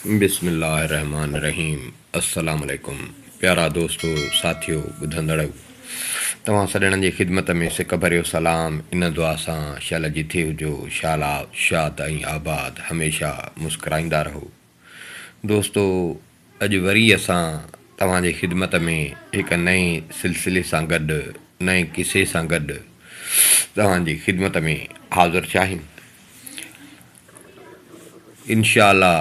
بسم الله الرحمٰن الرحيم السلام عليڪم پيارا دوستو ساٿيو ٻڌندڙئو توهان سڄڻن جي خدمت ۾ سڪ ڀريو سلام ان دعا سان شل جٿي هجو شال شاد ۽ آباد هميشه مسڪرائيندا رهو دوستو اڄ وري اسان توهان جي خدمت ۾ هڪ نئين سلسلي سان گڏ نئين قصي سان گڏ توهان جي خدمت ۾ حاضر چاهيون انشاء الله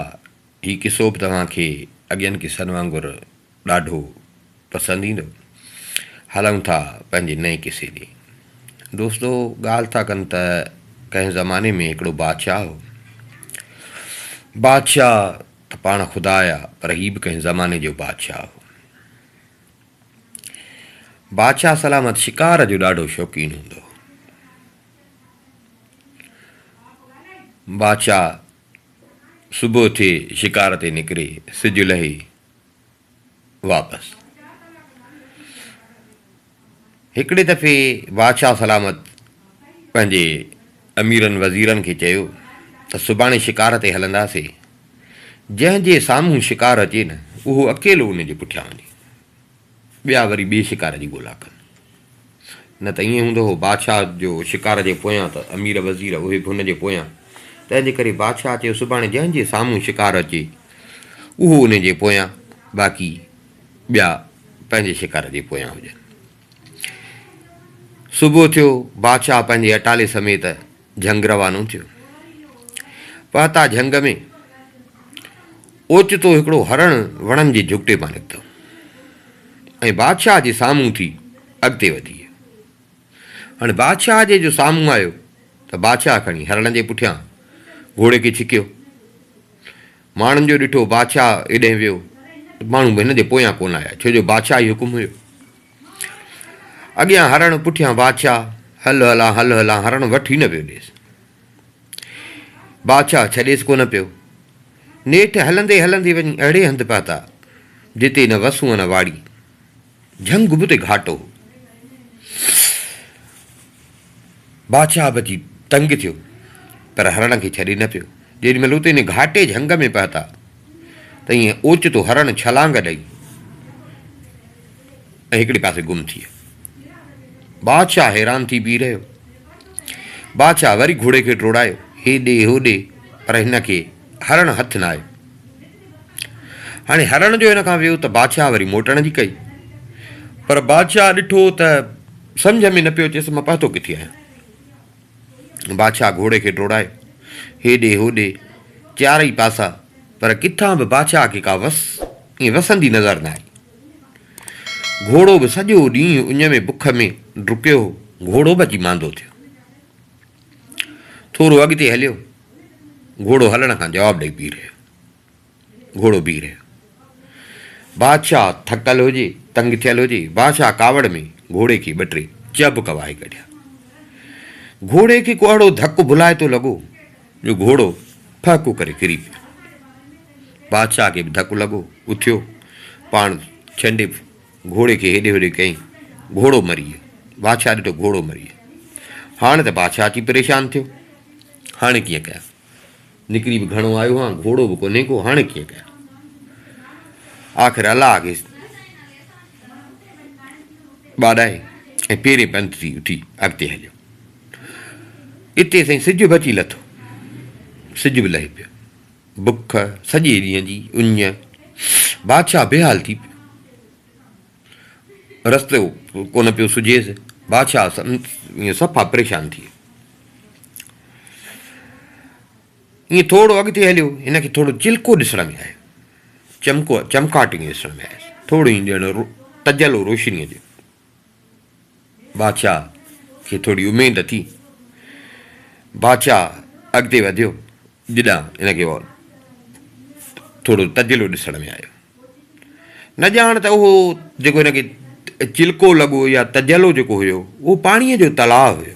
هي قصو به توهان کي اڳين قصن وانگر ڏاڍو پسند ايندو. هلون ٿا پنهنجي نئين قصي ڏي. دوستو ڳالهه ٿا ڪن ته ڪنهن زماني ۾ هڪڙو بادشاهه هو. بادشاهه ته پاڻ خدا آهي پر هي به ڪنهن زماني جو بادشاهه هو. بادشاهه سلامت شڪار جو ڏاڍو شوقين هوندو هو. بادشاهه صبح ٿئي شڪار تي نڪري سج لهي واپس. هڪڙي دفعي بادشاهه سلامت پنهنجي اميرن وزيرن کي چيو ته سڀاڻي شڪار تي هلنداسين جنهن جي سامهون شڪار اچي نه اهو اڪيلو ان جي پٺيان وڃي. ٻيا وري ٻئي شڪار جي ڳولا ڪن. نه ته ائين هوندو هو بادشاهه جو شڪار جي پويان ته امير وزير اهي به هن جي پويان. تنهنجي ڪري بادشاهه چيو سڀاڻي جنهن جي سامهون شڪار اچي اهو ان جي پويان باقي ٻيا پنهنجي شڪار جي پويان هجن. صبح ٿيو بادشاهه پنهنجي اٽالي سميت جهنگ روانو ٿيو. پهتا جهنگ ۾ اوچتو هڪڙو هرڻ وڻن جي جهڪٽي مان نڪتو ۽ بادشاهه جي سامهون ٿي اڳتي وڌي ويو. هاڻي بادشاهه جي جو سامهون آيو ته بادشاهه کڻي هرڻ جي پٺيان گهوڙي کي ڇڪيو. ماڻهن جو ڏٺو بادشاهه ايڏهن ويو ته ماڻهو به هن جي پويان ڪونه آيا ڇو جو بادشاهي حڪم هيو. اڳيان هرڻ پٺيان بادشاهه، هل هلان هل هلان هرڻ وٺ ئي نه پيو ڏيس. بادشاهه ڇڏيس ڪونه پيو. نيٺ هلندي هلندي وڃي اهڙي هنڌ پهتا جتي نه وسون نه واڙي. جهنگ به ته گهاٽو هو. بادشاهه به اچي تنگ ٿيو، پر هرڻ کي ڇڏي نه پيو. جيڏي مهل اتي ان گهاٽي جهنگ ۾ پهتا ته ايئن اوچتو هرڻ ڇلانگ ڏئي ۽ هڪڙي پاسي گم ٿي ويو. بادشاهه حيران ٿي بيهي رهيو. بادشاهه وري گهوڙي کي ڊوڙايو هيڏي هوڏي پر هن کي هرڻ هٿ نه آيو. هاڻي هرڻ جو هن کان ويو ته بادشاهه وري موٽڻ جي ڪئي پر بادشاهه ڏٺو ته سمجهه ۾ نه پيو اچيس مان پهتو ڪٿي آهيان بادشاهه گهوڙي کي ڊوڙايو هيڏي هوڏي چارئي پاسا پر ڪٿان به بادشاهه کي ڪا وس ائين وسندي نظر نه آئي گهوڙو به سڄو ڏينهن اڃ ۾ بک ۾ ڊڪيو هو گهوڙو به اچي ماندو ٿيو ٿورو اڳتي هليو، گهوڙو هلڻ کان جواب ڏئي بيهي رهيو. گهوڙو بيهي رهيو. بادشاهه ٿڪل هجي، تنگ ٿيل هجي، بادشاهه ڪاوڙ ۾ گهوڙي کي ٻه ٽي چهبڪ وهائي ڪڍيا. گهوڙي کي ڪو اهڙو ڌڪ ڀلائتو لڳو جو گهوڙو ڦهڪو ڪري ڪري پيو. بادشاهه کي به ڌڪ لڳو، اٿيو، پاڻ ڇنڊي گهوڙي کي هيڏي هوڏي ڪيائين، گهوڙو مري ويو. بادشاهه ڏٺو گهوڙو مري ويو. هاڻ ته بادشاهه اچي پريشان ٿيو. هاڻي ڪيئن ڪيان؟ نڪري به گهڻو آيو هان، گهوڙو به ڪونهي ڪو، هاڻي ڪيئن ڪيان؟ آخر الله کي ٻاڏائي ۽ پيرين پنڌ ٿي اٿي اڳتي هليو. اتي سائين سج به اچي لٿو. سج به لهي پيو. بک، سڄي ڏينهن جي اڃ، بادشاهه بيحال ٿي پيو. رستو ڪونه پيو سجهيس. بادشاهه ائين صفا پريشان ٿي ويو. ائين ٿورو اڳتي هليو، هن کي ٿورو چلڪو ڏسڻ ۾ آيو. چمڪو، چمڪاٽ ائين ڏسڻ ۾ آيس. ٿورو ائين ڄڻ تجلو روشنيء جو. بادشاهه کي ٿوري اميد اٿي. بادشاهه اڳتي وڌيو جڏان هن کي ٿورو تجلو ڏسڻ ۾ آيو. نه ڄاڻ ته اهو جيڪو هن کي چلڪو لڳو يا تجلو جيڪو هيو اهو پاڻيء جو تلاء هيو.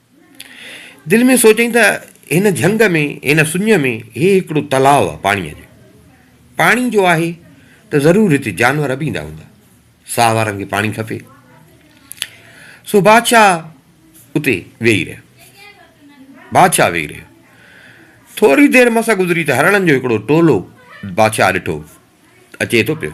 دل ۾ سوچيائين ته هن جهنگ ۾ هن سڃ ۾ هي هڪڙو تلاء آ پاڻيء جو. پاڻي جو آهي ته ضرور هتي جانور به ايندا هوندا. ساهه وارن کي پاڻي کپي. سو بادشاهه اتي ويهي رهيو. بادشاهه ويهي رهيو. ٿوري دير مس گذري ته هرڻن جو هڪڙو ٽولو بادشاهه ڏٺو اچي ٿو پيو.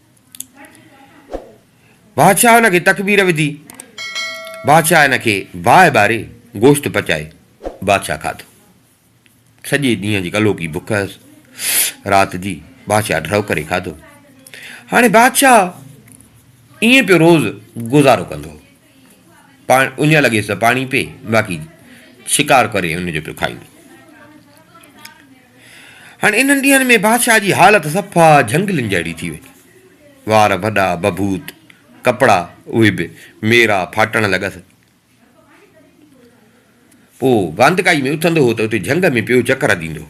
بادشاهه ان کي تڪبير وڌي. بادشاهه ان کي باهه ٻاري گوشت پچائي بادشاهه کاڌو. سڄي ڏينهن جي ڪلوڪي بک هيس. رات جي بادشاهه ڍرو ڪري کاڌو. هاڻي بادشاهه ائين پيو روز گذارو ڪندو هو. پاڻ اڃا لڳيس ته پاڻي پي باقي شڪار ڪري ان جو پيو کائين. هاڻي انهن ڏينهن ۾ بادشاهه جي حالت صفا جهنگلين جهڙي ٿي وئي. وار وڏا بڀوت، ڪپڙا اهي به ميرا ڦاٽڻ لڳس. پوء واندڪائي ۾ اٿندو هو ته اتي جهنگ ۾ پيو چڪر هديندو هو.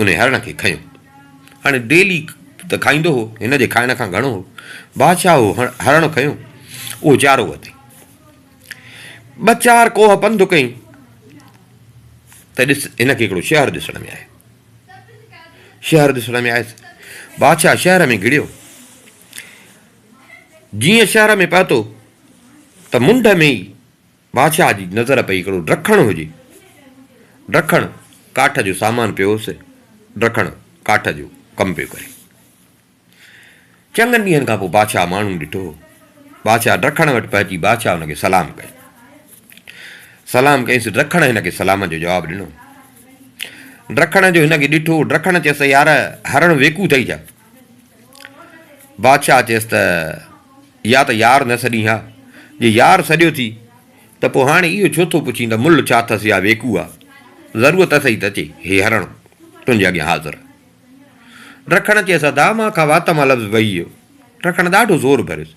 انهيء هرڻ کي کنيو. هاڻي ڊيلي ته کائيندو هو، هن جي کائڻ کان گهڻو هو. بادشاهه اهو هرڻ کنيو، اهو چارو وتي ٻه چار ڪوهه پنڌ ڪيائين ته ڏس، هن کي هڪڙو شهر ڏسڻ ۾ آيو. شهر ڏسڻ ۾ آيس. بادشاهه شهر ۾ گهڙيو. جيئن شهر ۾ پهتو ته منڍ ۾ ئي بادشاهه جي نظر پئي هڪڙو ڊکڻ هجي. ڊکڻ ڪاٺ جو سامان پيو هوس. ڊکڻ ڪاٺ جو ڪم پيو ڪري. چڱن ڏينهن کان پوء بادشاهه ماڻهو ڏٺو. بادشاهه ڊکڻ وٽ پهچي بادشاهه هن کي سلام ڪيو. سلام ڪيس ڊکڻ هن کي سلام جو جواب ڏنو. ڊکڻ جو هن کي ڏٺو. ڊکڻ چيس يار هرڻ ويڪو اٿئي ڇا؟ بادشاهه چيس ته يا ته يار نه سڏين ها، جي يار سڏيو ٿي ته پوء هاڻي اهو ڇو ٿو پڇين ته ملهه ڇا اٿس يا ويڪو آ، ضرورت اٿئي ته اچي، هي هرڻ تنهنجي اڳيان حاضر آ. رکڻ چيس ادا مان کان وات مان لفظ وهي ويو. رکڻ ڏاڍو زور ڀريس.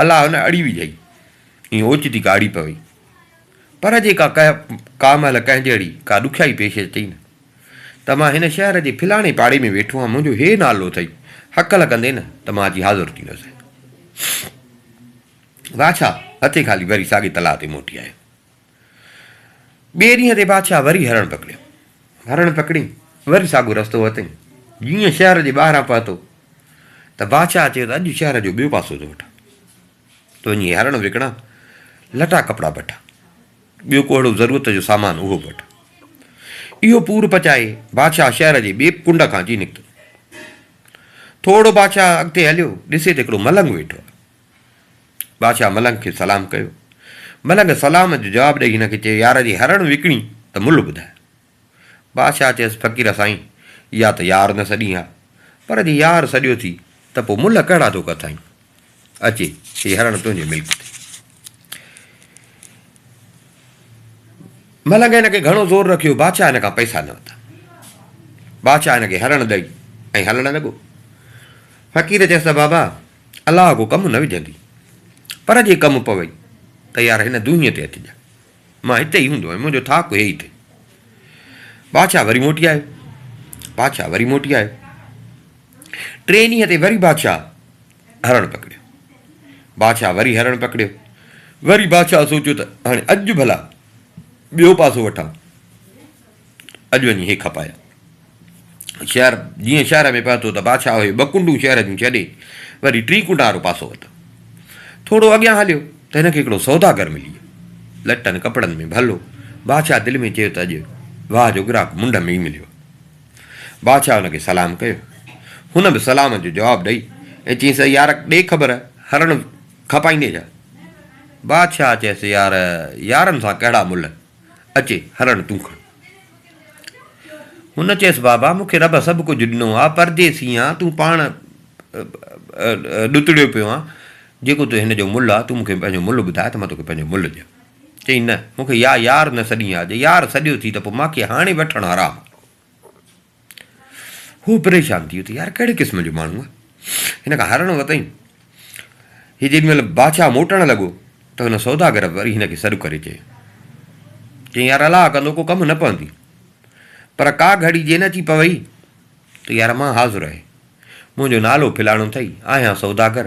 الا هن اڙي وجهئي ۽ اوچتي ڪاڙهي پوي. پر جيڪا ڪهه ڪا مهل ڪنهن جهڙي ڪا ڏکيائي پيش اچئي نه ته مان هن شهر جي فلاڻي پاڙي ۾ ويٺو آهيان منهنجو هي نالو اٿئي هڪل ڪندي نه ته مان اچي حاضر ٿيندس. واڇا هٿي خالي وري ساڳي تلاء تي موٽي آيو. ٻئي ڏينهن تي بادشاهه وري هرڻ پڪڙيو. هرڻ پڪڙي وري ساڳيو رستو ورتئين. جيئن شهر جي ٻاهران پهتو ته بادشاهه چيو ته اڄ شهر جو ٻيو پاسو ٿو وٺان. تو وڃي هرڻ وڪڻان، لٽا ڪپڙا بٺا. ٻيو ڪو اهڙو ضرورت جو سامان اهو به وٺ. اهو پور پچائي بادشاهه شهر جي ٻئي ڪنڊ کان اچي نڪتو. ٿورڙو بادشاهه اڳتي هليو، ڏسي ته هڪڙو ملنگ ويٺو آهي. بادشاهه ملنگ کي سلام ڪيو. ملنگ سلام جو جواب ڏئي هن کي چيو يار جي هرڻ وڪڻين ته ملهه ٻڌاء. بادشاهه چيس فقير سائين يا ته يار نه سڏين ها پر جي يار سڏيو ٿي ته پوء ملهه ڪهڙا ٿو ڪتائين. اچي هي هرڻ تنهنجي ملڪ ٿي. ملنگ هن کي گهڻو زور رکيو بادشاهه هن کان پئسا نه ورتا. بادشاهه هن کي هرڻ ڏئي ۽ هلڻ لڳو. فقير چيس ته بابا! الله ڪو ڪم نه وجهندي. پر جي ڪم پوي ته يار هن دونهيء تي اچجان. مان هتي ئي هوندو هيم. منهنجو ٿاڪ هي ئي اٿئي. بادشاهه وري موٽي آيو. بادشاهه وري موٽي آيو. ٽئين ڏينهن تي وري بادشاهه هرڻ پڪڙيو. بادشاهه وري هرڻ پڪڙيو. وري بادشاهه سوچيو ته هاڻي اڄ ڀلا ٻيو پاسو وٺان. اڄ وڃي هي کپايا شهر جيئن شهر ۾ پهتو ته بادشاهه اهي ٻه ڪنڊون شهر جون ڇڏي وري ٽين ڪنڊ وارو پاسو ورتو. ٿورو اڳيان هليو ته هن کي هڪڙو سوداگر ملي ويو. لٽن ڪپڙن ۾ ڀلو. بادشاهه دل ۾ چيو ته اڄ واهه جو گراهڪ منڍ ۾ ئي مليو. بادشاهه هن کي سلام ڪيو. هن به سلام جو جواب ڏئي ۽ چيس اي يار ڏي خبر هرڻ کپائيندين ڇا؟ بادشاهه چيس يار يارن سان ڪهڙا ملهه. اچي هرڻ تون کڻ. هن چيس بابا مون کي رب سڀ ڪجهه ڏنو آ، پرديسي آهيان، تون پاڻ ڏتڙيو پيو آهين، جيڪو تو هن جو ملهه آهي، تون مون کي پنهنجو ملهه ٻڌاء ته مان توکي پنهنجو ملهه ڏيان. چيائين نه، مون کي يا يار نه سڏين آ، جي يار سڏيو ٿي ته پوء مان کي هاڻي وٺڻ حرام آ. هو پريشان ٿي ويو ته يار ڪهڙي قسم جو ماڻهو آهي، هن کان هارڻو اٿئي. هي جيڏي مهل بادشاهه موٽڻ لڳو ته هن سوداگر وري هن کي سڏ ڪري چيو. چيائين يار الاهه ڪندو ڪو ڪم نه پوندي، پر ڪا گهڙي جي نه اچي پوئي ته يار مان حاضر آهي، منهنجو نالو فلاڻو اٿئي، آهيان سوداگر،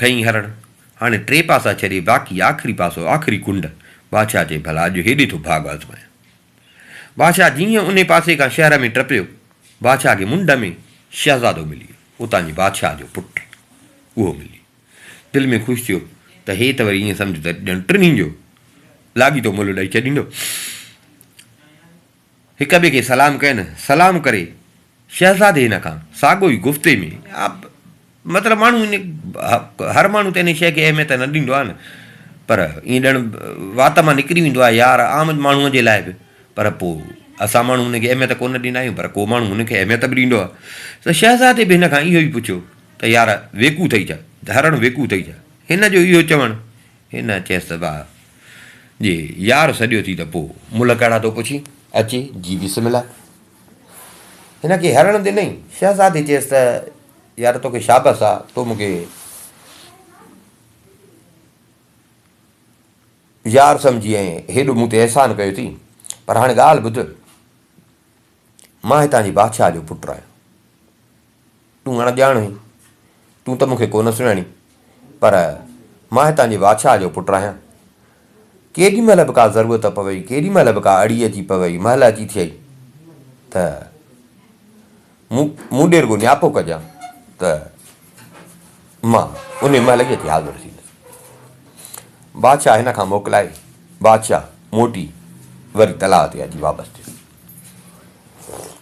ٺهين هرڻ، هاڻي ٽي پاسا ڇڏي باقي آخري پاسو، آخري ڪنڊ، بادشاهه چئي ڀلا اڄ هيڏي ٿو ڀاڳ آزمايان. بادشاهه جيئن انهي پاسي کان شهر ۾ ٽپيو، بادشاهه کي منڍ ۾ شهزادو ملي ويو، اتان جي بادشاهه جو پٽ اهو ملي دل ۾ خوش ٿيو ته هي ته وري ائين سمجهه ته ڄڻ ٽنهي جو لاڳيتو ملهه ڏئي ڇڏيندو. هڪ ٻئي کي سلام ڪين، سلام ڪري شهزادي هن کان ساڳو ئي گفتي ۾ مطلب ماڻهو ان هر ماڻهو ته ان شيء کي اهميت نه ڏيندو آهي نه پر ائين ڄڻ وات مان نڪري ويندو آهي يار عام ماڻهوء جي لاء به پر پوء اسان ماڻهو ان کي اهميت ڪو نه ڏيندا آهيون پر ڪو ماڻهو ان کي اهميت به ڏيندو آهي ته شهزادي به هن کان اهو ئي پڇيو ته يار ويڪو ٿئي ڇا، ڌارڻ ويڪو ٿئي ڇا؟ هن جو اهو چوڻ هن چيس ته واهه جي يار سڏيو ٿي ته پوء ملهه ڪهڙا ٿو پڇين، اچي جي بسم الله. هن کي هرڻ ڏنئي. شهزادي چيس ته يار توکي شابس آ تو مون کي يار سمجهي ۽ هيڏو مون تي احسان ڪيو ٿي پر هاڻي ڳالهه ٻڌ مان هتان جي بادشاهه جو پٽ آهيان. تون اڻڄاڻ هين، تون ته مون کي ڪونه سڃاڻين، پر مان هتان جي واڇا جو پٽ آهيان. ڪيڏي مهل به ڪا ضرورت پوي، ڪيڏي مهل به ڪا اڙي اچي پوي، مهل اچي ٿئي ته مون مون ڏي رڳو نياپو ڪجان ته مان انهي مهل ئي اچي حاضر ٿيندس. واڇا هن کان موڪلائي، واڇا موٽي وري تلاء تي اچي واپس ٿيو.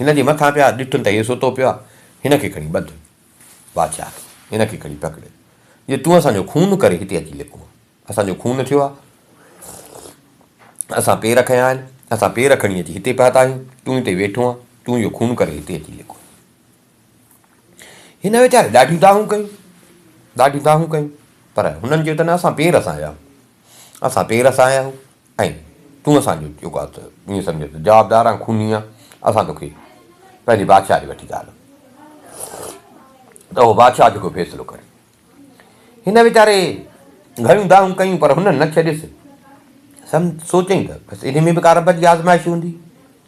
هن جي مٿان پيا ڏٺن ته هي ستو پيو آهي، هن کي کڻي ٻڌ. بادشاهه کي، هن کي کڻي پڪڙ، جو تون اسان جو خون ڪري هتي اچي لڪو آهين. اسان جو خون ٿيو آهي، اسان پير کنيا آهن، اسان پير کڻي اچي هتي پهتا آهيون، تون هتي ويٺو آهين، تون جو خون ڪري هتي اچي لڪو. هن ويچاري ڏاڍيون دانهون ڪيون، ڏاڍيون دانهون ڪيون، پر هنن چيو ته نه اسان پير سان آيا آهيون، اسان پير سان آيا آهيون، ۽ تون اسان جو چيو ڳالهه ته ائين سمجهه ته جوابدار آهن خوني آهن اسان توکي پنهنجي بادشاهه ڏي وٺي ڳالهه ته اهو بادشاهه جيڪو فيصلو ڪري. هن ويچاري گهڻيون دانهون ڪيون پر هن نه ڇڏيس. سم سوچيائين ته بس انهي ۾ به ڪا رب جي آزمائش هوندي.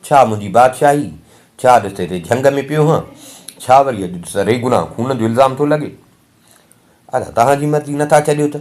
ڇا منهنجي بادشاهي، ڇا ڏس هتي جهنگ ۾ پيو هان، ڇا وري اڄ ڏس ري گناهه خون جو الزام ٿو لڳي. ادا تهان جي مرضي نه ٿا ڇڏيو ته.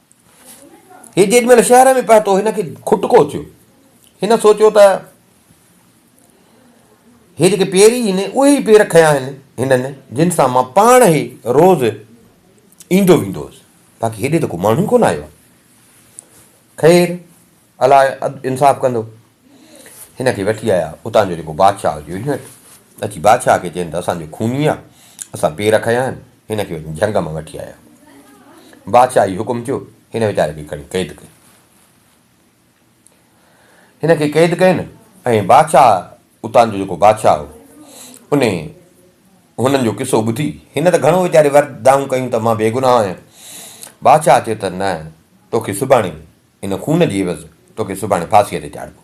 هي جيڏي مهل شهر ۾ پهتو هن کي کٽڪو ٿيو. هن سوچيو ته هي جيڪي پير ئي آهن اهي ئي پير کنيا آهن هنن جن سان مان پاڻ ئي روز ايندو ويندو هوس باقي هيڏي ته ڪو ماڻهو ئي ڪونه آيو آهي. خير الاء عدل انصاف ڪندو. هن کي وٺي آيا. اتان جو جيڪو بادشاهه هو جوهينٽ اچي بادشاهه کي چين ته اسان جو خوني آ، اسان پير کنيا آهن، هن کي وڃي جهنگ مان وٺي آيا. بادشاهه هي حڪم ٿيو، هن ويچاري کي کڻي قيد ڪئي. هن کي قيد ڪين ۽ بادشاهه اتان جو جيڪو بادشاهه هو ان هنن جو قصو ٻڌي، هن ته گهڻو ويچاري ورد دانهون ڪيون ته مان بيگناهه آهيان. بادشاهه چيو ته نه توکي سڀاڻي ان خون جي عيوض توکي سڀاڻي ڦاسيء تي چاڙهبو.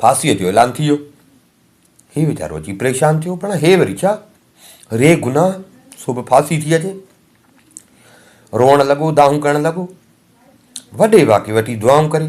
ڦاسيء جو اعلان ٿي ويو. هي ويچارو اچي پريشان ٿيو، پڻ هي وري ڇا؟ ري گناهه، سو به ڦاسي ٿي اچي. روئڻ لڳو، دانهون ڪرڻ لڳو. وڏي واڪي وٽي دعائون ڪري.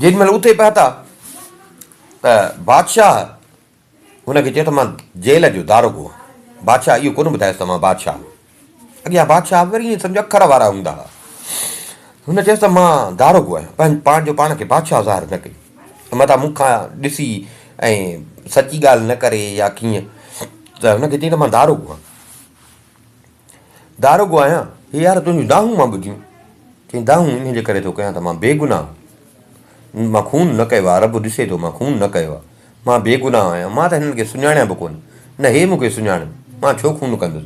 جيڏي مهل اٿي پهتا ته بادشاهه هن کي چيو ته مان جيل جو داروغو آهيان. بادشاهه اهو ڪونه ٻڌايس ته مان بادشاهه آهيان. اڳيان بادشاهه به وري ائين سمجهو اکر وارا هوندا هئا. هن چيس ته مان داروغو آهيان. پنهنجو پاڻ کي بادشاهه ظاهر نه ڪيو. متان مون کان ڏسي ۽ سچي ڳالهه نه ڪري يا ڪيئن ته هن کي چيائين ته مان داروغو آهيان. داروغو آهيان، هي يار تنهنجون دانهون مان ٻڌيون. چيائين دانهون انهيء جي ڪري ٿو ڪيان ته مان بيگناهه هو. مان خون نه ڪيو آهي، رب ڏسي ٿو مان خون نه ڪيو آهي. مان بيگناهه آهيان. مان ته هنن کي سڃاڻيان به ڪونه. نه هي مون کي سڃاڻن. مان ڇو خون ڪندس.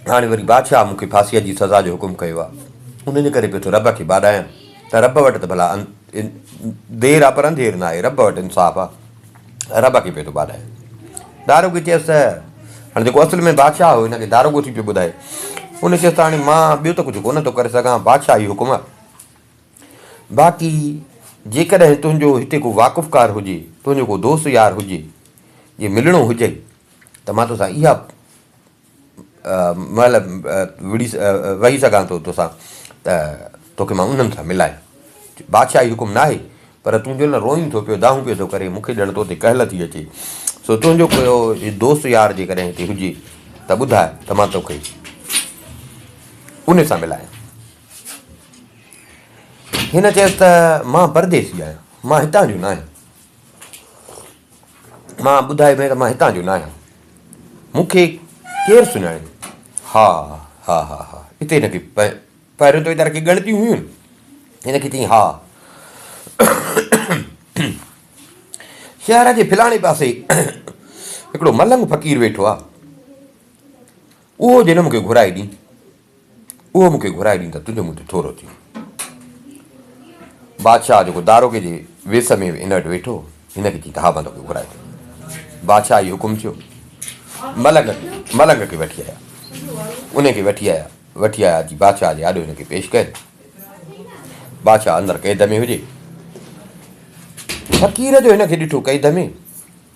هاڻي وري بادشاهه مون کي ڦاسيء جي سزا جو حڪم ڪيو آهي. انهيء جي ڪري پيو ٿو رب کي ٻاڏايان ته رب وٽ ته ڀلا دير آ پر انڌير ناهي، رب وٽ انصاف آ، رب کي پيو ٿو ٻاڏائي. داروغي چيس ته، هاڻي جيڪو اصل ۾ بادشاهه هو، هن کي داروغو ٿي پيو ٻڌائي. ان چيس ته، هاڻي مان ٻيو ته ڪجهه ڪونه ٿو ڪري سگهان، بادشاهه جي حڪم آ. باقي جيڪڏهن تنهنجو هتي ڪو واقفڪار هجي، تنهنجو ڪو دوست يار هجي، جي ملڻو هجئي ته مان توسان اها مهل وڙهي ويهي سگهان ٿو توسان ته توکي مان انهن سان ملائي بادشاهي حڪم ناهي پر تون جو نه روئين ٿو پيو دانهون پيو ٿو ڪرين مون کي ڄڻ تو تي ڪهل ٿي اچي سو تنهنجو ڪيو دوست يار جيڪڏهن هتي هجي ته ٻڌاء ته مان توکي ان سان ملايان هن چيس ته مان پرديسي آهيان مان هتان جو ناهي مان ٻڌايو ڀيڻ مان هتان جو نه آهيان مون کي ڪير سڃاڻي؟ ها ها ها ها هتي هن کي پهريون تويدار کي ڳڻتيون هيون هن کي چيائين ها شهر جي فلاڻي پاسي هڪڙو ملنگ فقير ويٺو آهي اهو جنم کي گهرائي ڏي اهو مون کي گهرائي ڏين ته تنهنجو مون تي ٿورو ٿيون. بادشاهه جيڪو داروغي جي ويس ۾ هن وٽ ويٺو هو، هن کي چيائين ته ها بندو کي گهرائي ٿو. بادشاهه جي حڪم ٿيو. ملنگ ملنگ کي وٺي آيا. انهي کي وٺي آيا. وٺي آيا اچي بادشاهه جي آڏو هن کي پيش ڪين. بادشاهه اندر قيد ۾ هجي. فقير جو هن کي ڏٺو قيد ۾.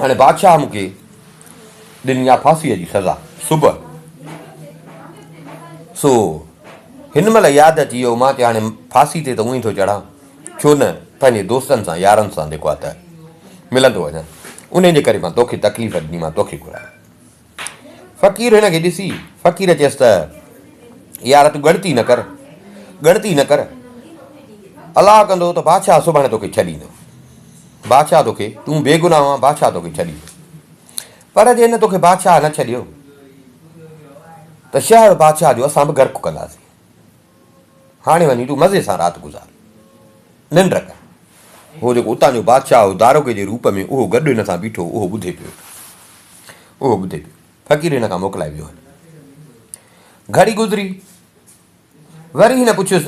هاڻي بادشاهه مون کي ڏني آهي ڦاسيء جي سزا صبح سو هن مهل ياد اچي ويو مان کي هاڻي ڦاسي تي ته اونئي ٿو چڙهان ڇو نه پنهنجي دوستن سان يارن سان جيڪو آهي ته ملندو وڃان ان جي ڪري مان تکي تڪليف ڏني مان تکي گهران فقير هن کي ڏسي فقير چيس ته يار تون ڳڻتي نه ڪر ڳڻتي نه ڪر الاهه ڪندو ته بادشاهه سڀاڻي توکي ڇڏيندو بادشاهه توکي تون بيگناهه آهان بادشاهه توکي ڇڏيندو پر جي هن توکي بادشاهه نه ڇڏيو ته شهر بادشاهه جو اسان به گرڪ ڪنداسين هاڻي وڃي تون مزي سان رات گذار، ننڊ ڪر. هو جيڪو اتان جو بادشاهه هو، داروغي جي روپ ۾ اهو گڏ هن سان بيٺو هو، اهو ٻڌي پيو. اهو ٻڌي پيو. فقير هن کان موڪلائي ويو هل. گهڙي گذري. وري هن پڇيس،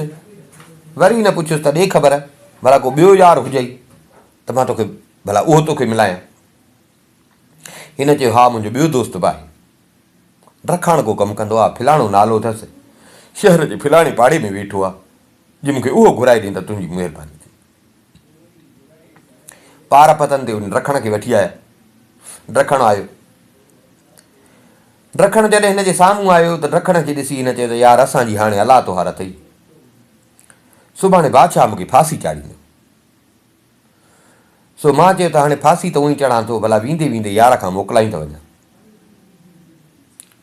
وري هن پڇيس ته ڏي خبر، ڀلا ڪو ٻيو يار هجئي ته مان توکي ڀلا اهو توکي ملايان. هن چيو، ها منهنجو ٻيو دوست به آهي. ڊرکاڻ ڪو ڪم ڪندو آهي، ڦلاڻو نالو اٿس، شهر جي ڦلاڻي پاڙي ۾ ويٺو آهي، جي مون کي اهو گهرائي ڏين ته تنهنجي مهرباني ٿيندي. پار پتن تي ڊرکڻ کي وٺي آيا. ڊرکڻ آيو. ڊرکڻ جڏهن هن جي سامهون آيو ته ڊرکڻ کي ڏسي هن چيو ته يار اسان جي هاڻي الله تهار اٿئي. سڀاڻي بادشاهه مون کي ڦاسي چاڙهيندو. سو ماء چيو ته هاڻي ڦاسي ته اونئي چڙهان ٿو ڀلا ويندي ويندي يار کان موڪلائي ته وڃان.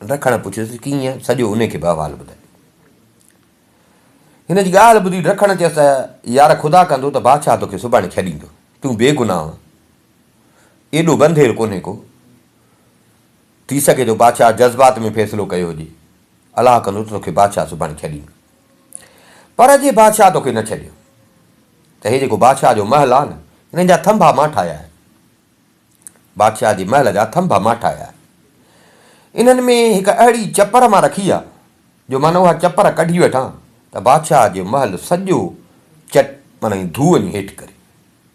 ڊکڻ پڇيس ته ڪيئن سڄو انهي کي به احوال ٻڌائي. هن جي ڳالهه ٻڌي ڊکڻ چيس ته يار خدا ڪندو ته بادشاهه توکي سڀاڻي ڇڏيندو. تون بي گناهه آن. ايڏو بنڌير ڪونهي ڪو. ٿي سگهي ٿو بادشاهه جذبات ۾ فيصلو ڪيو هجي. الله ڪندو ته توکي بادشاهه سڀاڻي ڇڏيندو، پر اڄ هي بادشاهه توکي نه ڇڏيو، ته هي جيڪو بادشاهه جو محل آهي نه، هن جا ٿنڀا مان ٺاهيا آهن. بادشاهه جي محل جا ٿنڀا مان ٺاهيا آهن. انهن ۾ هڪ اهڙي چپر مان رکي آهي، جو معنيٰ اها چپر ڪڍي وٺان، ته بادشاهه جو محل سڄو چٽ معنيٰ ڌوئن هيٺ ڪري.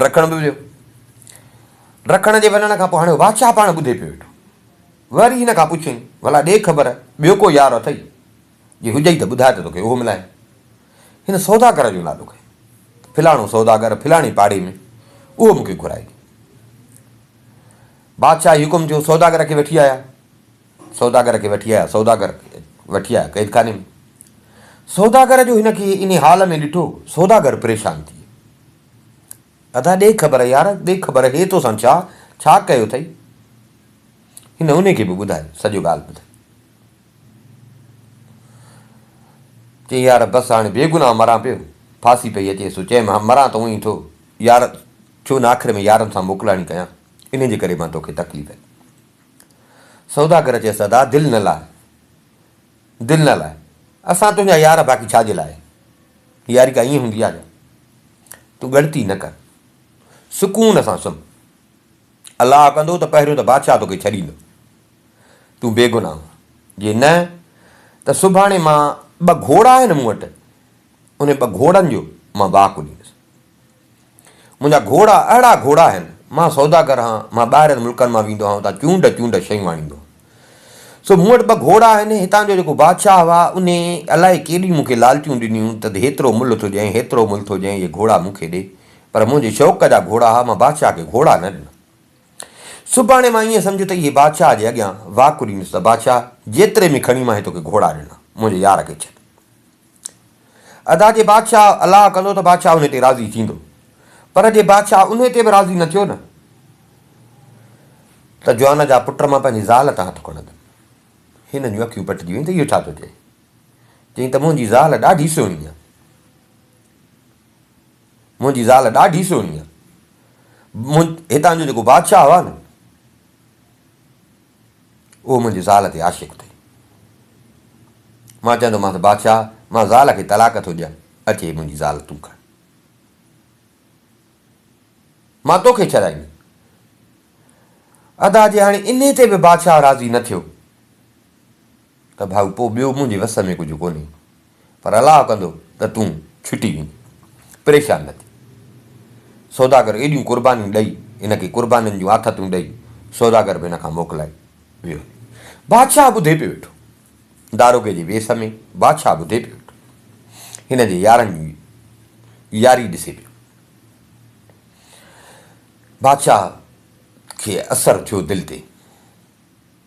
ڊکڻ به ويو. ڊکڻ جي وڃڻ کان پوء هاڻي بادشاهه پاڻ ٻڌي پيو ويٺو. وري هن کان پڇيائين، ڀلا ڏي خبر، ٻيو ڪو يار اٿئي؟ جي هجئي ته ٻڌاء ته توکي اهو ملائي. هن سوداگر جو نالو کنيو. فلاڻو سوداگر فلاڻي پاڙي ۾، اهو مون کي گهرائي ڏي. بادشاهه جي حڪم ٿيو، سوداگر کي وٺي آيا. سوداگر کي وٺي آيا، سوداگر وٺي آيا قيدخاني ۾، سوداگر جو هن کي انهي حال ۾ ڏٺو، سوداگر پريشان ٿي ويو، ادا ڏي خبر يار، ڏي خبر هي توسان ڇا، ڇا ڪيو اٿئي؟ هن انهي کي به ٻڌايو، سڄو ڳالهه ٻڌائي. چيائين يار بس هاڻي بي گناهه مران پيو، ڦاسي پئي اچي سو چيم ها مران ته اونهي ٿو يار، ڇو نه آخر ۾ يارن سان موڪلاڻي ڪيان، انهي جي ڪري مان توکي تڪليف ڏئي. سوداگر چيس ادا دل نه لاء دل نه لاء اسان تنهنجا يار باقي ڇا جي لاء ياري ڪا ائين هوندي آهي تون ڳڻتي نه ڪر سڪون سان سمهه الله ڪندو ته پهريون ته بادشاهه توکي ڇڏيندو تون بيگناهه جي نه ته سڀاڻي مان ٻه گهوڙا آهن مون وٽ ان ٻه گهوڙن جو مان واهه ڪڍيندس منهنجا گهوڙا اهڙا گهوڙا آهن، مان سوداگر آهان، مان ٻاهرين ملڪن مان ويندو آهان اتان چونڊ چونڊ شيون آڻيندو آهان. سو مون وٽ ٻه گهوڙا آهن، هتان جو جيڪو بادشاهه هئا انهي الائي ڪيڏيون مون کي لالچون ڏنيون ته هيترو ملهه ٿو ڏيانء هيترو ملهه ٿو ڏيانء اهي گهوڙا مون کي ڏي، پر منهنجي شوق جا گهوڙا هئا مان بادشاهه کي گهوڙا نه ڏنا. سڀاڻي مان ائين سمجهه ته اهي بادشاهه جي اڳيان واڪ ڏيندس ته بادشاهه جيتري ۾ کڻي مان هي توکي گهوڙا ڏنا، منهنجي يار کي ڇڏ. ادا جي بادشاهه الاء ڪندو ته بادشاهه انهي تي راضي ٿيندو پر جي بادشاهه انهي تي به راضي نه ٿيو نه ته جوان جا پٽ مان پنهنجي زال تان هٿ کڻندم هنن جون اکيون پٽجي ويون ته اهو ڇا ٿو چئي چئين ته منهنجي زال ڏاڍي سهڻي آهي منهنجي زال ڏاڍي سهڻي آهي هتان جو جيڪو بادشاهه هو نه اهو منهنجي زال تي عاشق ٿئي. مان چوندومانس بادشاهه مان زال کي طلاق ٿو ڏيان، اچ هي منهنجي زال تون کڻ. مان توکي ڇڏائيندس. ادا جي هاڻي انهي تي به بادشاهه راضي نه ٿيو ته ڀائو پوء ٻيو منهنجي وس ۾ ڪجهه ڪونهي. پر الله ڪندو ته تون ڇٽي ويندين. پريشان نه ٿي. سوداگر ايڏيون قربانيون ڏئي، ان کي قربانين جون آٿتون ڏئي، سوداگر به ان کان موڪلائي ويو هلي. بادشاهه ٻڌي پيو ويٺو. داروغي جي ويس ۾ بادشاهه ٻڌي پيو ويٺو. هن جي يارن جي ياري ڏسي پيو. بادشاهه کي اثر ٿيو دل تي.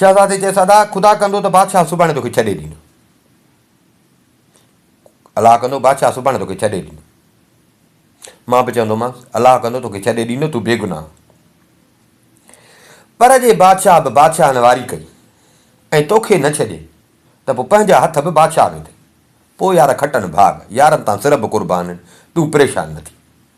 شهزادي چيس، ادا! خدا ڪندو ته بادشاهه سڀاڻي توکي ڇڏي ڏيندو. الله ڪندو بادشاهه سڀاڻي توکي ڇڏي ڏيندو. مان به چوندومانس، الله ڪندو توکي ڇڏي ڏيندو، تون بيگناهه آهين. پر جي بادشاهه به بادشاهن واري ڪئي ۽ توکي نه ڇڏي ته پوء پنهنجا هٿ به بادشاهه ويندي. پوء يار کٽن ڀاڳ، يارن تان سر به قربان آهن، تون پريشان نه ٿي.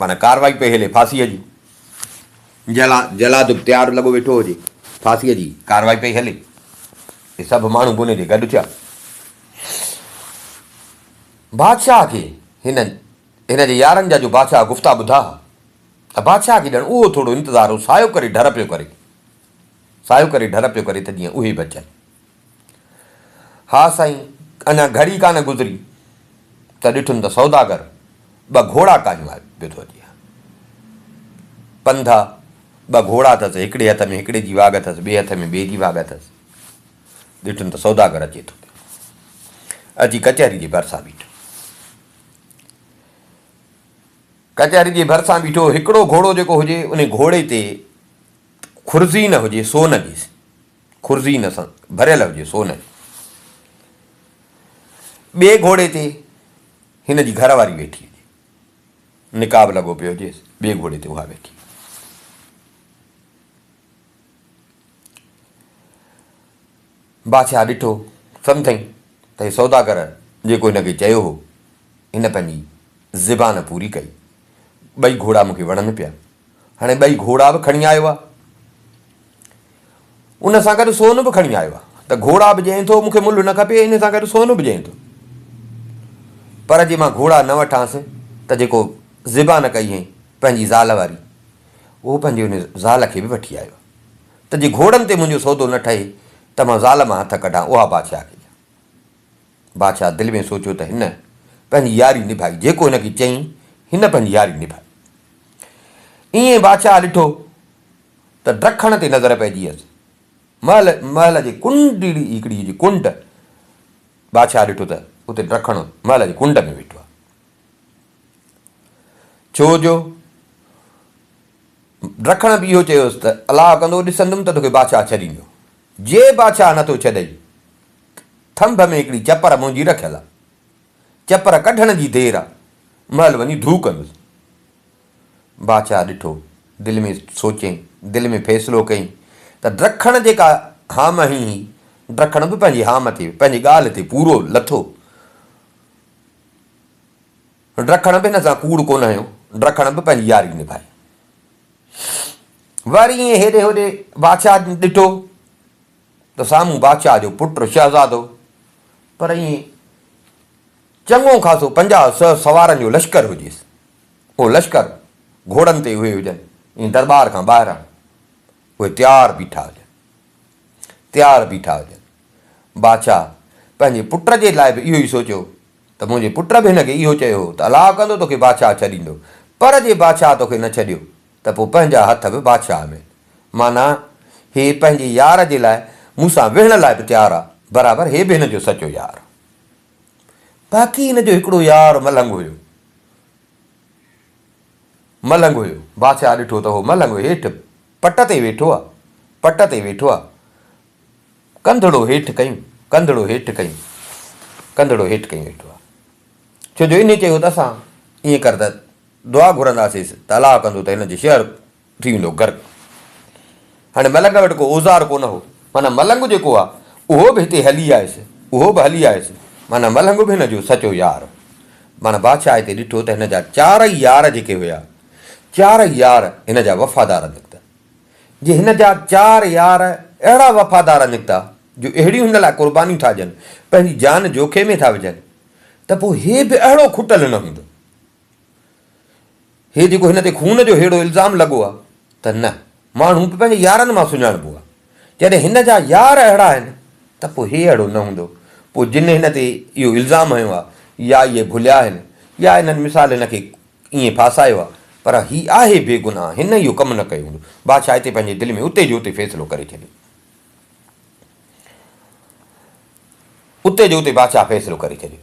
معنيٰ ڪارروائي پئي هلي ڦاسيء جي. جلاد به تيار لڳو ويٺو هجي. ڦاسيء جي ڪارروائي پئي هلي. اهي سڀ ماڻهو بني تي گڏ ٿيا. بادشاهه کي هن هن جي يارن جا جو بادشاهه گفتا ٻڌا ها ته بادشاهه کي ڄڻ اهو ٿورو انتظار هو سايو ڪري ڍر پيو ڪري سايو ڪري ڍر پيو ڪري ته جيئن اهي به اچن. ها سائين، اڃا گهڙي ڪانه گذري ته ڏٺم ته سوداگر ٻه گهوڙا ڪاهيون آيو پيو ٿو اچي. پنڌا، ٻه گهوڙا اٿس، هڪڙي هٿ ۾ هڪڙي جي واڳ اٿس، ٻئي هٿ ۾ ٻئي جي واڳ اٿس. ڏٺم ته سوداگر اچي ٿو پيو. اچي ڪچهري جي ڀرسان بيٺو. ڪچهري جي ڀرسان بيٺو، هڪڙو گهوڙو جيڪو هجي، ان گهوڙي تي خرزي نه هجي، سو نه ڏيس. خرزي ان سان ڀريل هجي سو نه. ٻئي گهوڙي تي هن جي گهر واري ويٺي هجي. نقاب لڳو پيو هجيس، ٻئي گهوڙي تي اها ويٺي هجي. بادشاهه ڏٺو، سمجهيائين ته هي سوداگر جيڪو هن کي چيو هو، هن پنهنجي زبان پوري ڪئي. ٻئي گهوڙا مون کي وڻن پيا. هاڻي ٻئي گهوڙا به کڻي آيو آ. ان سان گڏ سون به کڻي آيو آ ته گهوڙا به ڄئين ٿو مون کي ملهه نه کپي ان سان گڏ سون به ڄئين ٿو پر جي مان گهوڙا نه وٺانس ته جيڪو زبان ڪئي هئين پنهنجي زال واري اهو پنهنجي ان زال کي به وٺي آيو آ ته جي گهوڙن تي منهنجو سودو نه ٺهي ته مان زال مان هٿ ڪڍان اها بادشاهه کي ڏيان بادشاهه دل ۾ سوچيو ته هن پنهنجي ياري نڀائي جيڪو هن کي چئين هن پنهنجي ياري نڀائي ائين بادشاهه ڏٺو ته ڊکڻ تي نظر پئجي ويس. محل محل جي ڪنڊڙي هڪڙي هجي ڪنڊ. بادشاهه ڏٺو ته اتي ڊکڻ محل جي ڪنڊ ۾ ويٺو آهي. ڇو جو ڊکڻ به اهو چيو هيس ته الاء ڪندو ڏسندم ته توکي بادشاهه ڇڏيندو. جي بادشاهه نه ٿو ڇڏئي ٿنڀ ۾ هڪڙي چپر منهنجي رکيل آهي. چپر ڪڍڻ جي دير آهي. محل وڃي ڍو ڪندس. باچا ڏٺو، دل ۾ سوچيائين، دل ۾ فيصلو ڪيائين ته ڊرکڻ جيڪا هام هين هي، ڊرکڻ به پنهنجي هام تي، پنهنجي ڳالهه تي پورو لٿو. ڊرکڻ به هن سان ڪوڙ ڪونه هنيو، ڊرکڻ به پنهنجي ياري نڀائي. وري ائين هيڏي هوڏي باچا ڏٺو ته سامهون باچا جو پٽ شهزادو، پر ائين چڱو خاصو پنجاهه سؤ سوارن جو لشڪر هجيس. اهو لشڪر گهوڙن تي اهي هجن ۽ درٻار کان ٻاهران اهي تيار بيٺا هجن. تيار بيٺا هجن. بادشاهه پنهنجي پٽ جي لاء به اهو ئي سوچيو ته منهنجي پٽ به هن کي اهو چيو هو ته الا ڪندو توکي بادشاهه ڇڏيندو پر جي بادشاهه توکي نه ڇڏيو ته پوء پنهنجا هٿ به بادشاهه ۾. معنيٰ هي پنهنجي يار جي لاء مون سان ويهڻ لاء به تيار آ برابر هي به هن جو سچو يار آ. باقي هن جو هڪڙو يار ملنگ هيو. ملنگ هيو. بادشاهه ڏٺو ته هو ملنگ هيٺ پٽ تي ويٺو آ. پٽ تي ويٺو آ. ڪنڌڙو هيٺ ڪيون. ڪنڌڙو هيٺ ڪيون. ڪنڌڙو هيٺ ڪيون ويٺو آ. ڇو جو انهي چيو ته اسان ائين ڪر ته دعا گهرنداسيس ته الله ڪندو ته هن جي شهر ٿي ويندو غرق. هاڻي ملنگ وٽ ڪو اوزار ڪونه هو، معنيٰ ملنگ جيڪو آ، اهو به هتي هلي آيس، اهو به هلي آيس، معنيٰ ملنگ به هن جو سچو يار هو. معنيٰ بادشاهه هتي ڏٺو ته هن جا چارئي يار جيڪي هيا، چارئي يار هن جا وفادار نڪتا. جي هن جا چار يار اهڙا وفادار نڪتا، جو اهڙيون هن لاء قربانيون ٿا ڏين، پنهنجي جان جوکي ۾ ٿا وجهن، ته پوء هي به اهڙو کٽل نه هوندو. هي جيڪو هن تي خون جو ههڙو الزام لڳو آهي ته نه، ماڻهو به پنهنجي يارن مان سڃاڻبو آهي. جڏهن هن جا يار اهڙا آهن ته پوء هي اهڙو نه هوندو. پوء جن هن تي اهو الزام هنيو آهي يا اهي ڀليا آهن يا انهن مثال هن کي ائين ڦاسايو آهي پر هي آهي بيگناهه هن اهو ڪم نه ڪيو هوندو. بادشاهه هتي پنهنجي دل ۾ اتي جو اتي فيصلو ڪري ڇڏيو. اتي جو اتي بادشاهه فيصلو ڪري ڇڏيو.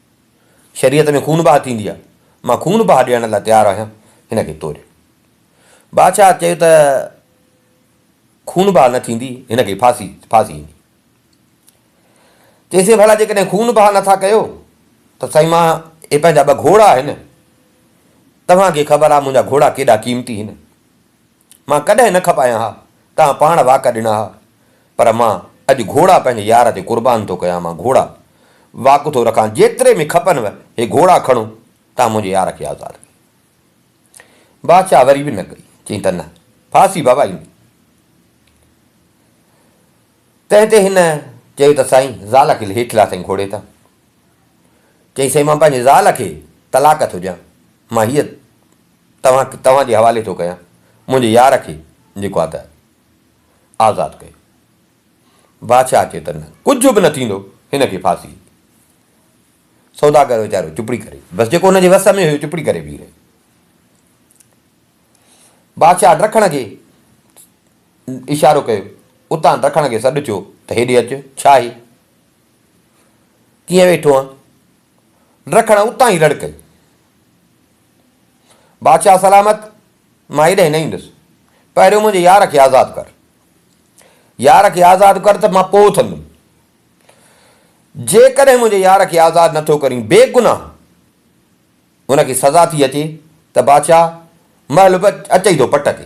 شريعت ۾ خون بهه ٿيندي آهي، مان خون بهه ڏيڻ لاء تيار آهيان، هن کي توري. بادشاهه چيو ته خون بهه نه ٿيندي، هن کي ڦاسي ڦاسي ايندي. چيسين ڀلا جيڪڏهن خون بهه نه ٿا ڪيو ته سائين مان هي پنهنجا ٻه گهوڙا آهن، توهان کي خبر آهي منهنجا گهوڙا ڪيڏا قيمتي هن، مان ڪڏهن نه کپايان ها، توهان پاڻ واڪ ڏنا ها، پر مان اڄ گهوڙا پنهنجي يار تي قربان ٿو ڪيان، مان گهوڙا واڪ ٿو رکان، جيتري به کپنو هي گهوڙا کڻو، توهان منهنجي يار کي آزاد ڪيو. بادشاهه وري به نه ڪئي، چيائين ته نه، ڦاسي ڀوائيندي. تنهن تي هن چيو ته سائين، زال کي هيٺ لاٿائين گهوڙي تان. چيائين سائين مان پنهنجي زال کي طلاق ٿو ڏيان مان هيء توهان کي توهان جي حوالي ٿو ڪيان منهنجي يار کي جيڪو آ ته آزاد ڪيو بادشاهه چيو ته نه ڪجهه به نه ٿيندو هن کي ڦاسي سوداگر ويچارو چپڙي ڪري بس جيڪو هن جي وس ۾ هيو چپڙي ڪري بيهي رهيو بادشاهه ڊکڻ کي اشارو ڪيو اتان ڊکڻ کي سڏ ٿيو ته هيڏي اچ ڇا هي ڪيئن ويٺو آن؟ رکڻ اتان ئي رڙ ڪئي. بادشاهه سلامت، مان هيڏانهن نه ايندس. پهريون منهنجي يار کي آزاد ڪر. يار کي آزاد ڪر ته مان پوء اٿندم. جيڪڏهن منهنجي يار کي آزاد نه ٿو ڪرين، بيگناهه هن کي سزا ٿي اچي ته بادشاهه مهل به اچي ٿو پٽ کي.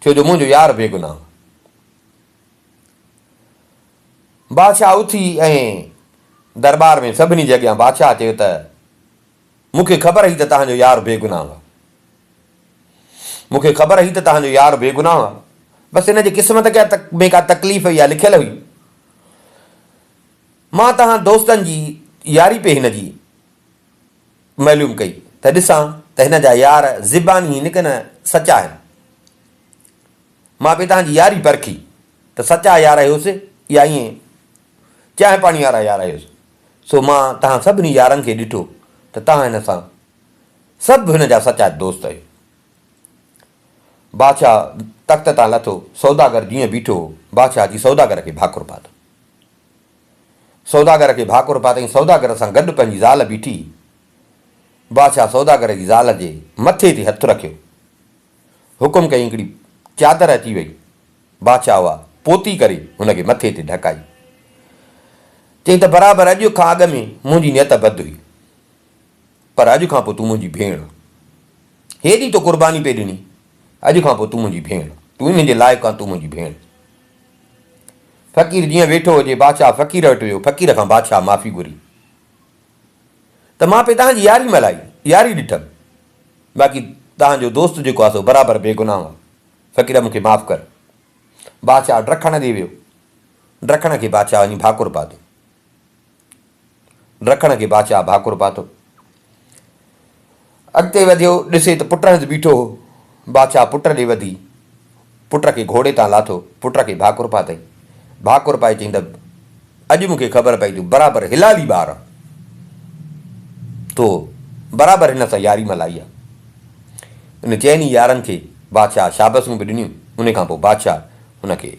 ٿيو جو منهنجو يار بيگناهه. بادشاهه اٿي ۽ درٻار ۾ سڀني جي اڳيان بادشاهه چيو ته مون کي خبر هئي ته تهان جو يار بيگناهه آهي. مون کي خبر هئي ته تهان جو يار بيگناهه آهي. بس هن جي قسمت ۾ ڪا تڪليف هئي يا لکيل هئي. مان تهان دوستن جي ياري پئي هن جي معلوم ڪئي ته ڏسان ته هن جا يار زباني هين ڪنه سچا هين. مان به تنهنجي ياري پرکي ته سچا يار هيوس يا ائين چانهه پاڻي وارا يار هيوس. سو مان تنهن سڀني يارن کي ڏٺو ته تنهن هن سان سڀ هن جا سچا دوست هيو. بادشاهه تخت تان لٿو، سوداگر جيئن بيٺو هو، بادشاهه اچي سوداگر کي ڀاڪر پاتو. سوداگر کي ڀاڪر پاتائين، سوداگر سان گڏ پنهنجي زال بيٺي، بادشاهه سوداگر جي زال جي مٿي تي هٿ رکيو، حڪم ڪيائين هڪڙي چادر اچي وئي، بادشاهه اها پوتي ڪري هن کي مٿي تي ڍڪائي، چيائين ته برابر اڄ کان اڳ ۾ منهنجي نيت بد هئي، پر اڄ کان پوء تون منهنجي ڀيڻ، هيڏي تو قرباني پئي ڏني، اڄ کان پوء تون منهنجي ڀيڻ، تون ئي منهنجي لائق آن، تون منهنجي ڀيڻ. فقير جيئن ويٺو هجي، بادشاهه فقير وٽ ويو، فقير کان بادشاهه معافي گهري ته مان پئي توهان جي ياري ملهائي، ياري ڏٺم، باقي توهان جو دوست جيڪو آهي سو برابر بي گناهه آهي، فقير مون کي معاف ڪر. بادشاهه ڊرڪڻ ڏي ويو، ڊرڪڻ کي بادشاهه وڃي ڀاڪر پاتو. رکڻ کي بادشاهه ڀاڪر پاتو. اڳتي وڌيو، ڏسي ته پٽ هنڌ بيٺو هو. بادشاهه پٽ ڏي وڌي، پٽ کي گهوڙي تان لاٿو، پٽ کي ڀاڪر پاتئين. ڀاڪر پائي چيائين ته اڄ مون کي خبر پئي تون برابر هلالي ٻار آن. تو برابر هن سان ياري ملائي آ. ان چئن ئي يارن کي بادشاهه شابسون به ڏنيون. ان کان پوء بادشاهه هن کي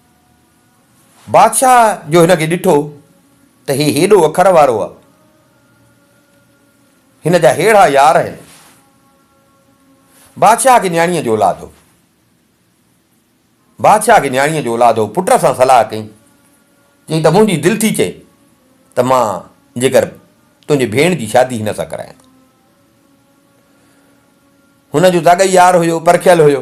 بادشاهه جو هن کي ڏٺو ته هي هيڏو اکر وارو آ، هن جا هيڙها يار آهن. بادشاهه کي نياڻيء جو اولاد هو. بادشاهه کي نياڻيء جو اولاد هو، پٽ سان صلاح ڪئي، چيائين ته منهنجي دل ٿي چئي ته مان جيڪر تنهنجي ڀيڻ جي شادي هن سان ڪرايان. هن جو زاڳئي يار هيو، پرکيل هيو.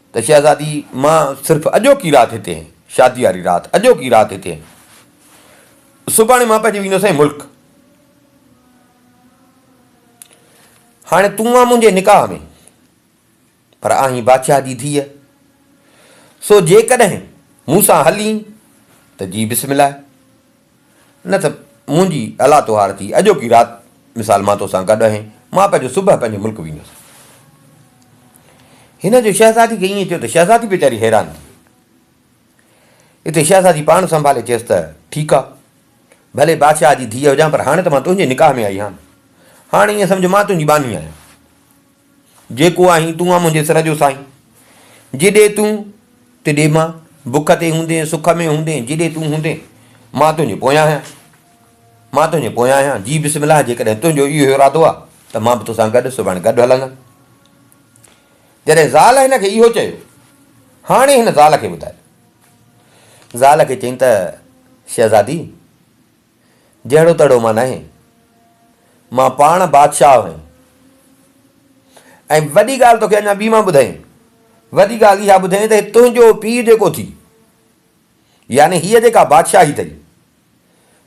ته شهزادي مان صرف اڄوڪي رات هتي آهين، شاديء واري رات، اڄوڪي رات هتي آهين. سڀاڻي مان پئجي ويندو سائين ملڪ. هاڻي تون آن منهنجي نڪاح ۾، پر آهين بادشاهه جي ڌيء، سو جيڪڏهن مون سان هلين ته جي بسم الله. نه ته منهنجي الا تهار ٿي اڄوڪي رات مثال مان توسان گڏ اهي مان پنهنجو صبح پنهنجي ملڪ ويندس. هن جو شهزادي کي ائين چيو ته شهزادي ويچاري حيران ٿي. اتي شهزادي پاڻ سنڀالي چيس ته ٺيڪ آ ڀلي بادشاهه جي ڌيء هجان پر هاڻي ته مان تنهنجي نڪاح ۾ آئي هان هاڻي ائين سمجهه مان تنهنجي ٻانهي آهيان جيڪو آهين تون آ منهنجي سر جو سائين جيڏي تون تيڏي مان بک تي هوندين سک ۾ هوندين جيڏي تون هوندين مان تنهنجي پويان آهيان مان تنهنجي پويان آهيان جي بسم الله جيڪڏهن تنهنجو اهو ارادو آ ته مان به توسان گڏ سڀاڻي گڏ هلندم جڏهن زال هن کي اهو چيو هاڻي هن زال کي ٻڌايو زال کي چين ته شهزادي جهڙو تهڙو مان ناهين. مان پاڻ بادشاهه آهيان. ۽ وڏي ڳالهه توکي اڃا ٻي مان ٻڌايين. وڏي ڳالهه اها ٻڌين ته هي تنهنجو پيء جيڪو ٿي، يعني هيء جيڪا بادشاهي اٿئي،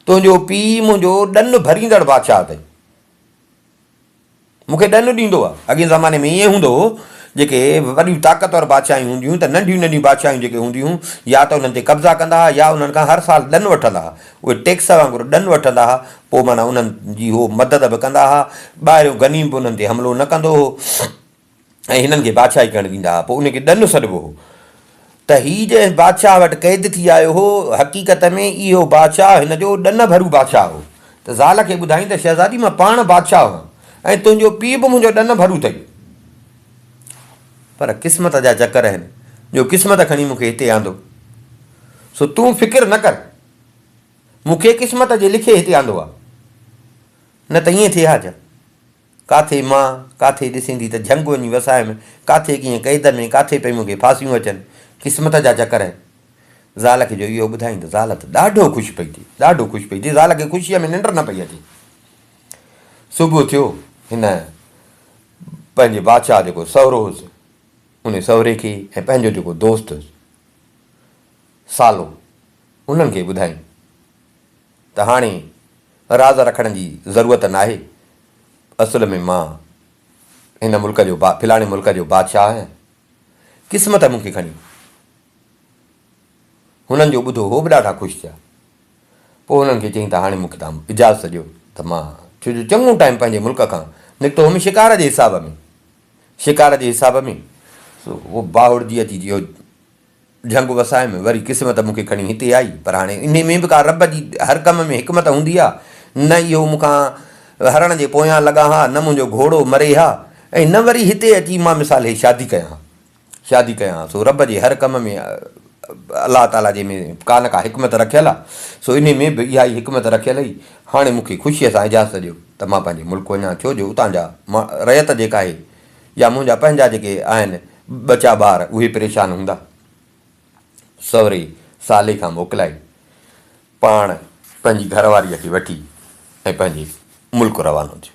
تنهنجو پيء منهنجو ڏن ڀريندڙ بادشاهه اٿئي. مون کي ڏنڊ ڏيندو آ. اڳين زماني ۾ ائين هوندو هو جيڪي وڏيون طاقتور بادشاهيون هونديون هيون ته ننڍيون ننڍيون بادشاهيون جيڪي هونديون هيون يا ته انهن تي قبضا ڪندا ها يا انهن کان هر سال ڏن وٺندا ها اهي ٽيڪس وانگر ڏن وٺندا ها پوء معنيٰ انهن جي هو مدد به ڪندا ها ٻاهريون غنيم به انهن تي حملو نه ڪندو هو. ۽ هنن کي بادشاهي ڪرڻ ڏيندا ها پوء ان کي ڏنو سڏبو هو ته هي جنهن بادشاهه وٽ قيد ٿي آيو هو حقيقت ۾ اهو بادشاهه هن جو ڏن ڀرو بادشاهه هو ته زال کي ٻڌائين ته شهزادي مان پاڻ بادشاهه هئم ۽ تنهنجو پيء به منهنجو ڏن ڀرو اٿئي پر قسمت جا چڪر آهن جو قسمت کڻي مون کي هتي آندو سو تون فڪر نه ڪر مون کي قسمت جي لکي هتي آندو آهي نه ته ائين ٿئي ها ڇا ڪاٿي مان، ڪاٿي ڏسيندي ته جهنگ وڃي وسايم، ڪاٿي ڪيئن قيد ۾، ڪاٿي پئي مون کي ڦاسيون اچن، قسمت جا چڪر آهن. زال کي جو اهو ٻڌائين ته زال ته ڏاڍو خوش پئي ٿئي، ڏاڍو خوش پئي ٿئي، زال کي خوشيء ۾ ننڊ نه پئي اچي. صبح ٿيو، هن پنهنجي بادشاهه جيڪو سهرو هوس، ان سهري کي ۽ پنهنجو جيڪو دوست هوس سالو، انهن کي ٻڌائين. ته هاڻي راز رکڻ جي ضرورت ناهي، اصل ۾ مان هن ملڪ جو با فلاڻي ملڪ جو بادشاهه آهيان، قسمت مون کي کڻي وئي. هنن جو ٻڌو هو به ڏاڍا خوش ٿيا. پوء هنن کي چيائين ته هاڻي مون کي توهان اجازت ڏيو ته مان ڇو جو چڱو ٽائيم پنهنجي ملڪ کان نڪتو هوم شڪار جي حساب ۾ شڪار جي حساب ۾ سو باهوڙجي اچي اهو جهنگ وسائي ۾ وري قسمت مون کي کڻي هتي آئي، پر هاڻي انهي ۾ به ڪا رب جي هر ڪم ۾ حڪمت هوندي آ، نه اهو مون کان هرڻ جي پويان لڳا ها، نه منهنجو گهوڙو مري ها ۽ نه وري هتي اچي مان مثال هي شادي ڪيان ها شادي ڪيان ها، سو رب جي هر ڪم ۾ الله تعاليٰ جي ۾ ڪا نه ڪا حڪمت رکيل آ، سو انهي ۾ به اها ئي حڪمت رکيل هئي، هاڻي مون کي خوشيء سان اجازت ڏيو ته مان پنهنجي ملڪ وڃان، ڇو جو اتان جا رعيت جيڪا آهي يا منهنجا پنهنجا جيڪي آهن ٻچا ٻار اهي پريشان هوندا. سوري سالي کان موڪلائي پاڻ پنهنجي گهر واريء کي وٺي ۽ پنهنجي ملڪ روانو ٿيو.